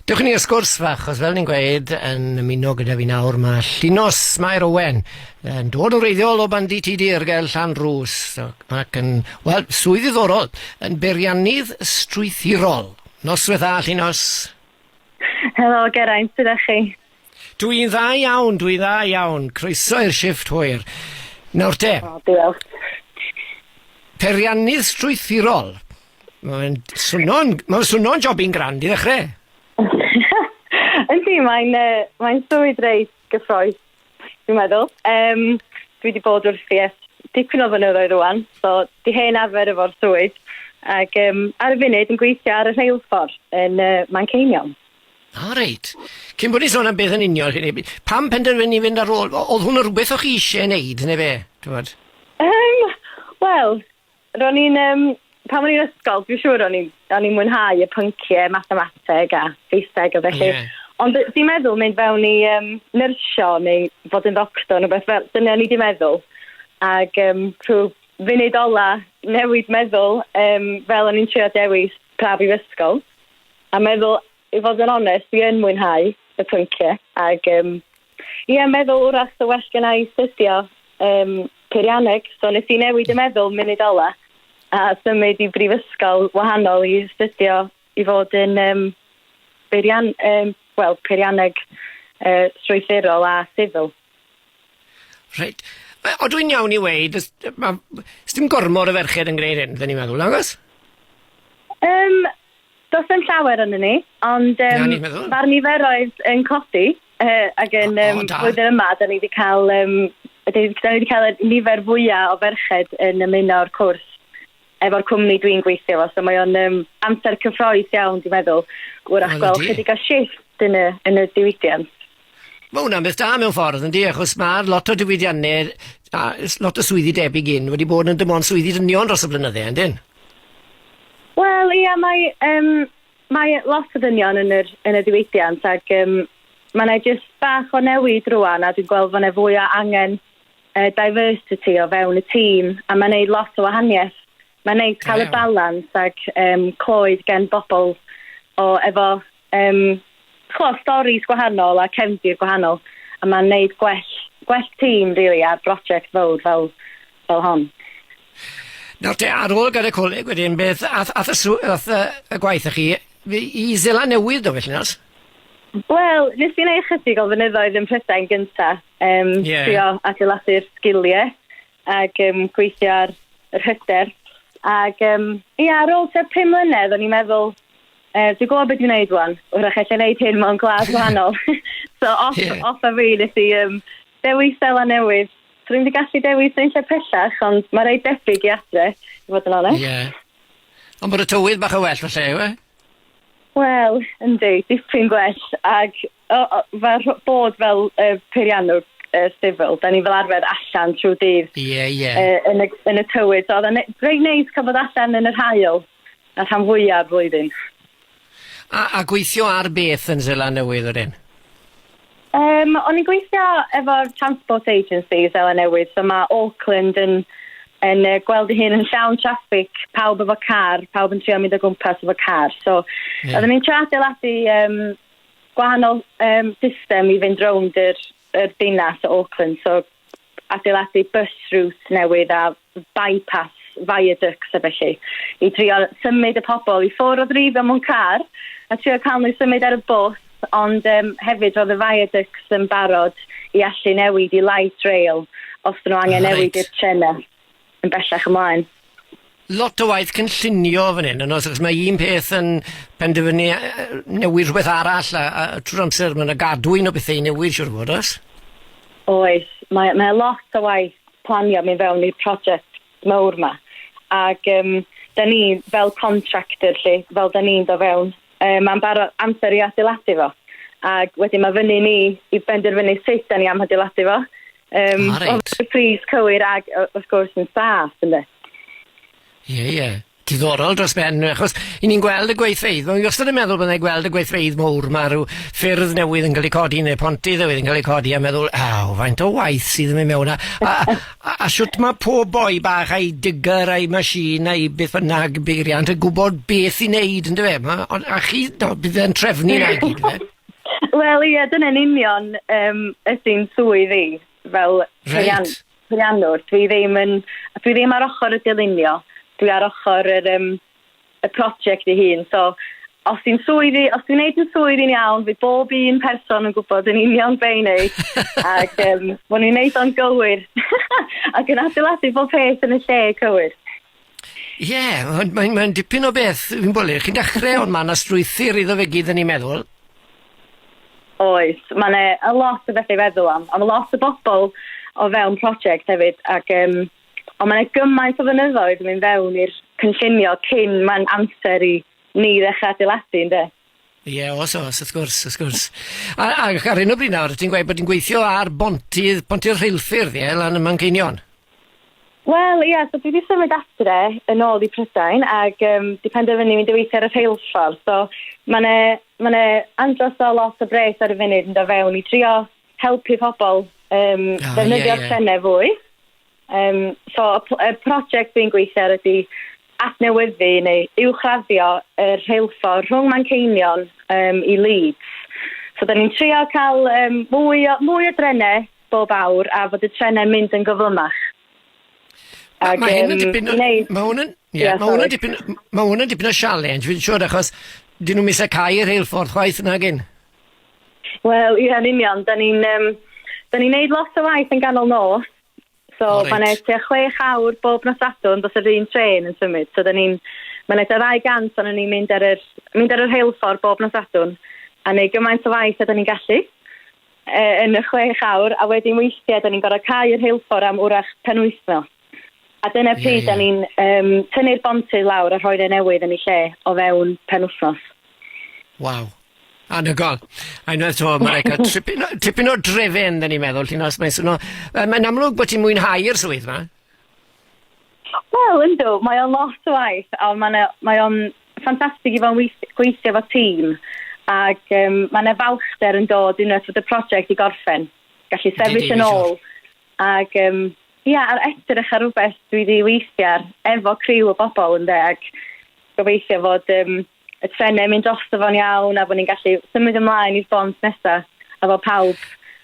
Dewch i ni ar sgwrs fach, os fel ni'n gweud, yn ymuno gyda fi nawr, mae Llinos Mair Owen, yn dod o reiddiol o bandi ti dir gael llan rhws, ac yn, wel, swydd ddiddorol, yn beiriannydd strwythurol. Noswaith dda, Llinos. Helo, Geraint, sydd â chi? Dw i'n dda iawn, dw i'n dda iawn. Croeso i'r shifft hwyr. Nawr te. O, diolch. Peiriannydd strwythurol. Mae'n swno'n mae'n swno'n jobyn grand i ddechrau. Yndi, mae'n uh, mae'n swydd reit gyffroes, dwi'n meddwl. Um, dwi wedi bod wrth i es dipyn o fynyddoedd rwan, so di hen arfer efo'r swydd. Ac um, ar y funud yn gweithio ar y rheilffordd yn uh, Manceinion. Ah reit. Cyn bod ni'n sôn am beth yn union, hynny yw, pam penderfynu fynd ar ôl? O- Oedd hwn rhywbeth o'ch chi eisiau ei wneud, neu be? T'mod? Um, Wel, ro'n i'n... Um, pan o'n i'n ysgol, dwi'n siŵr o'n i'n o'n i'n mwynhau y pynciau, mathemateg a Saesneg a felly. Yeah. Ond d- dwi'n meddwl mynd fewn i um, nyrsio neu fod yn ddoctor neu beth fel, dyna ni di meddwl. Ac um, rhyw funud ola newid meddwl um, fel o'n i'n trio dewis pa brifysgol. A meddwl, i fod yn onest, fi yn mwynhau y pyncie, ac um, ie, meddwl wrach sa well gen i studio um, peirianneg, so nes i newid y meddwl munud ola, a symud i brifysgol wahanol i studio i fod yn um, beirian, um, well, peirianneg uh, strwythurol a sifil. Reit. O dwi'n iawn i weid, ys dim gormod o ferched yn gwneud hyn, dyn ni'n meddwl, nagos? Um, Does dim llawer ynddo ni, ond yym mae'r niferoedd yn codi yy ac yn um, flwyddyn yma, da ni wedi cael um, da ni wedi cael y nifer fwyaf o ferched yn ymuno o'r cwrs efo'r cwmni dwi'n gweithio fo, so mae o'n um, amser cyffroes iawn, dwi'n meddwl, wrach gweld chydig o shift yn y, yn y diwydiant. Mae hwnna'n beth da mewn ffordd, yndi, achos mae lot o diwydiannau a lot o swyddi debyg un wedi bod yn dim ond swyddi dynion dros y blynydde, yndyn? Wel, ia, mae, um, mae lot o dynion yn, yr, yn y diwydiant ac um, mae yna jyst bach o newid rwan a dwi'n gweld fod yna fwy o angen uh, diversity o fewn y tîm a mae'n gwneud lot o wahaniaeth. Mae'n neis cael y balans ac um, clywed gen bobl o efo um, chlo, storis gwahanol a cefndir gwahanol a mae'n neud gwell, gwell tîm really, ar brosiect fawr fel, fel hon. Nawr te, ar ôl gael y coleg wedyn, beth ath, ath, y, ath y, y gwaith chi i Zela Newydd do felly nas? Wel, nes i'n ei chydig o fynyddoedd yn Prydain gyntaf, um, yeah. trio adeiladu'r sgiliau Ac yn gweithio ar yr hyder. Ac um, ia, ar ôl tua pum mlynedd, o'n i'n meddwl, uh, dwi'n gwybod beth dwi'n gwneud rwan. Wrach allai wneud hyn mewn glas wahanol. so, off, yeah. off a fi, nes i um, dewis dela newydd. So, rwy'n wedi gallu dewis yn lle pellach, ond mae rei debyg i adre, i fod yn onest. Yeah. Ond bod y tywydd bach o well, felly, yw e? Wel, yndi, dipyn gwell. Ac O, o, fel rh- bod fel yy peiriannwr yy sifil, 'dan ni fel arfer allan trwy dydd... Ie, ie. ...yy yn y yn y tywydd, so o'dd e'n ne- reit neis ca'l bod allan yn yr haul, y rhan fwya o'r flwyddyn. A a gweithio ar beth yn Seland Newydd wedyn? Yym, o'n i'n gweithio efo'r transport agency Seland Newydd, so ma' Auckland yn yn yy gweld 'i hun yn llawn traffig, pawb efo car, pawb yn trio mynd o gwmpas efo car, so... Ie. ...odden ni'n trio adeiladu yym gwahanol um, system i fynd rownd yr, yr dinas o Auckland, so adeiladu bus routes newydd a bypass, viaducts a felly, i drio symud y pobl i ffwrdd o ddrifio mewn car a trio cael nhw symud ar y bws, ond um, hefyd roedd y viaducts yn barod i allu newid i light rail os nhw angen ah, newid right. i'r trenau. yn bellach ymlaen. Lot o waith cynllunio fan hyn, yn oes, achos mae un peth yn penderfynu e, e, newid rhywbeth arall, a, a trwy'r amser mae yna gadw un o bethau i newid, siwr o fod, oes? Oes, mae, mae lot o waith planio mi fewn i'r prosiect mawr yma. Ac um, da ni fel contractor, lle, fel da ni'n do fewn, um, mae'n barod amser i adeiladu fo. Ac wedyn mae fyny ni i benderfynu sut da ni am adeiladu fo, Um, ah, right. Oedd y pris cywir ac wrth gwrs yn saff, ynddo. Ie, yeah, ie. Yeah. Diddorol dros ben, achos i ni'n gweld y gweithfeidd. Mae'n wastad yn meddwl byddai'n gweld y gweithfeidd mowr. Mae rhyw ffyrdd newydd yn cael eu codi neu pontydd newydd yn cael eu codi a meddwl, aw, faint o waith sydd yn mynd mewn. A, a, a, a siwt mae pob boi bach a'i digger a'i machine a'i beth bynnag beiriant yn gwybod beth i wneud, yn dweud. A chi, no, bydd e'n trefnu na i gyd, fe? Wel ie dyna'n union yym ydi'n swydd i fel peirian- Reit. peiriannwr dwi ddim yn dwi ddim ar ochor y dylunio dwi ar ochor yr yym y project ei hun so os dwi'n swydd i os dwi'n neud yn swydd i'n iawn fydd bob un person yn gwbod yn union be' i neud ag yym bo' ni'n neud o'n gywir ac yn adeiladu bob peth yn y lle cywir. Ie, ond mae'n mae dipyn o beth, fi'n bwlio, chi'n dechrau ond mae yna strwythyr iddo fe gyd yn ei meddwl. Oes, mae'n e a lot o bethau i feddwl am, a mae lot o bobl o fewn prosiect hefyd, ac um, ond mae'n e gymaint o fynyddoedd yn mynd fewn i'r cynllunio cyn mae'n amser i ni ddechrau adeiladu, ynddo? Ie o's o's wrth gwrs wrth gwrs. A a ac ar hyn o bryd nawr ti'n gweud bod ti'n gweithio ar bontydd ponty'r rheilffyrdd ie lan ym Manceinion? Wel ia so dwi 'di symud adre yn ôl i Prydain ag yym 'di penderfynu mynd i weithio ar y rheilffordd so ma' 'ne ma' 'ne andros o lot o bres ar y funud yn do' fewn i drio helpu pobol yym... O ie ie. ...ddefnyddio'r trene fwy. Um, so, y prosiect dwi'n gweithio ar ydy adnewyddu neu uwchraddio y rheilffordd rhwng Manceinion um, i Leeds. So, da ni'n trio cael um, mwy, o, mwy o drenau bob awr a fod y trenau'n mynd yn gyflymach. Mae ma hyn yn dipyn... Mae hwn yn... Yeah, mae hwn yn dipyn... Mae hwn yn dipyn o sialens, fi'n siŵr, achos dyn nhw'n mis y cael yr heilffordd chwaith yna gyn. Wel, ie, yn union. Da ni'n um, da ni neud lot o waith yn ganol nos, So oh, mae'n eich tua chwech awr bob nos adwn dros yr un tren yn symud. So dyn ni'n, mae'n eich tua gant ond ni'n mynd ar yr, mynd ar yr heilffordd bob nos adwn a neu gymaint o waith a dyn ni'n gallu e, yn y chwech awr a wedyn weithiau dyn ni'n gorau cael yr heilffordd am wrach pen wythnos. A dyna pryd yeah, yeah. da ni'n um, tynnu'r bontydd lawr a rhoi rhoi newydd yn ei lle o fewn pen wythnos. Waw. Anhygoel. A unwaith 'to ma' raid cael tripyn o tripyn o drefen 'dan ni'n meddwl lle nos mae'n swno yy mae'n amlwg bod ti'n mwynhau'r swydd 'ma. Wel yndw mae o'n lot o waith a ma' 'na mae o'n ffantastig i fod yn weith- gweithio efo tîm ac yym ma' 'na falchder yn dod unwaith fod y prosiect i gorffen. Gallu sefyll yn ôl ac yym ia ar edrych ar rwbeth dwi 'di weithio ar efo criw o bobl ynde ac gobeithio fod yym y trenau mynd drosto fo'n iawn a bod ni'n gallu symud ymlaen i'r bont nesaf a bod pawb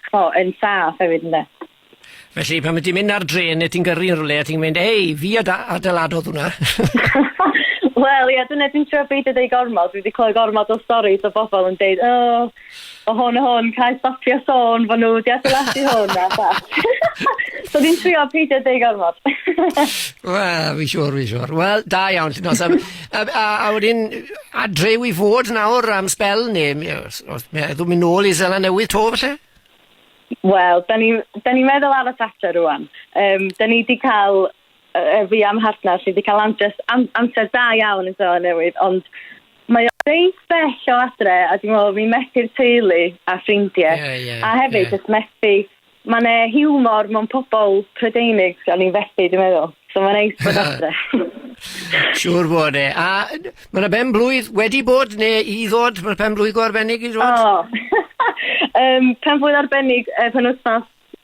chmo, yn saff hefyd ynde. Felly pan ti'n mynd ar dren neu ti'n gyrru yn rhywle a ti'n mynd hei fi ad- adeiladodd hwnna. Wel ia dyna dwi'n trio beidio deud gormod dwi wedi clywed gormod o storis o bobl yn deud o o hwn o hwn, cael stopio sôn fod nhw wedi adeiladu hwn a bach. so ni'n trio peidio deud gormod. Wel, fi siwr, fi siwr. Wel, da iawn, Llinos. A, a, a, a wedyn, adrew i fod nawr am spel, neu os, os meddwl mynd nôl i Zela Newydd to, felly? Wel, da ni'n ni, meddwl ar y Thatcher rwan. Um, da ni wedi cael Yy fi a'm mhartner fi 'di ca'l amdress- am- amser da iawn yn Seland Newydd ond mae o reit bell o adre a dwi me'wl fi'n methu'r teulu a ffrindie. Ie ie. A hefyd... Ie. ...jyst methu ma' 'ne hiwmor mewn pobol Prydeinig o'n i'n fethu dwi meddwl. So ma'n neis bod adre. Siŵr fod e. A yy d- ma' 'na ben-blwydd wedi bod ne' i ddod ma'r pen-blwydd go arbennig i ddod? O! Yym pen-blwydd arbennig y penwthnos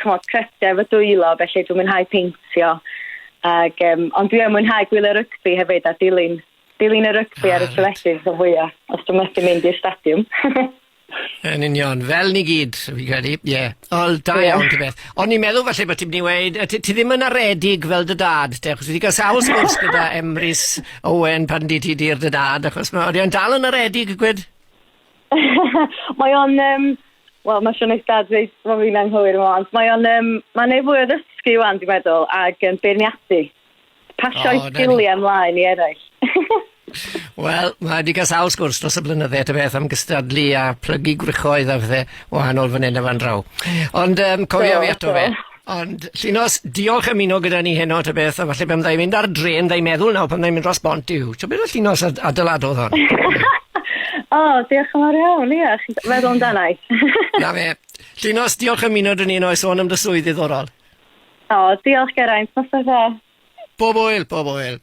ch'mod cryfder fy dwylo felly dwi'n mwynhau peintio ag yym ond dwi yn mwynhau gwylio rygbi hefyd a dilyn dilyn y rygbi ar y teledu rhan fwya os dwi methu mynd i'r stadiwm. Yn union, fel ni gyd, fi credu, ie. Yeah. Wel, da yeah. iawn, ti beth. Ond ni'n meddwl falle bod ti'n mynd i weid, ti, ti ddim yn aredig fel dy dad, te, achos wedi cael sawl sgwrs gyda Emrys Owen pan di ti dir dy dad, achos mae wedi dal yn aredig, gwed? mae o'n um, wel mae Sian Eistad reit mae fi'n anghywir yma ond mae o'n um, mae'n ei fwy o ddysgu wan dwi'n meddwl ac yn um, beirniadu pasio oh, sgiliau ymlaen i eraill Wel, mae wedi cael sawl sgwrs dros y blynydde at y beth am gystadlu a plygu gwrychoedd a phethau wahanol fan hyn a fan draw. Ond um, cofio fi ato fe. Ond Llinos, diolch am ymuno gyda ni heno ta beth, a falle pan fyddai mynd ar drên, fyddai meddwl nawr pan fyddai mynd dros bont yw. Ti'n meddwl Llinos ad adeiladodd hon? o, oh, diolch yn fawr iawn, ie, chi'n meddwl amdana i. Na fe. Llinos, diolch am ymuno dyn ni heno i sôn am dy swydd ddiddorol. O, oh, diolch Geraint, nos da. Bob oel, bob oel.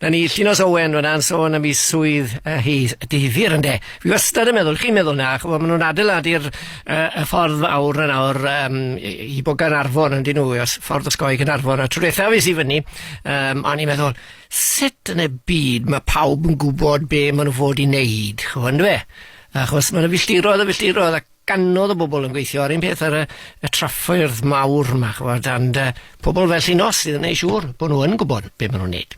Na ni, Llinos Owen, fyna'n sôn am ei swydd uh, hi difyr ynde. Fi wastad yn meddwl, chi'n meddwl na, chwa, maen nhw'n adeiladu'r uh, y ffordd awr yn awr um, i, i bogan arfon yn dyn nhw, os ffordd osgoi gan arfon. A trwy eithaf i si fyny, um, o'n i'n meddwl, sut yn y byd mae pawb yn gwybod be maen nhw fod i wneud, chwa, ynddo fe? Achos mae'n y filltiroedd a filltiroedd ac gannodd y bobl yn gweithio ar un peth ar y, y traffoedd mawr yma, chwbod, and uh, pobl fel Llinos sydd yn ei siŵr bod nhw yn gwybod beth maen nhw'n neud.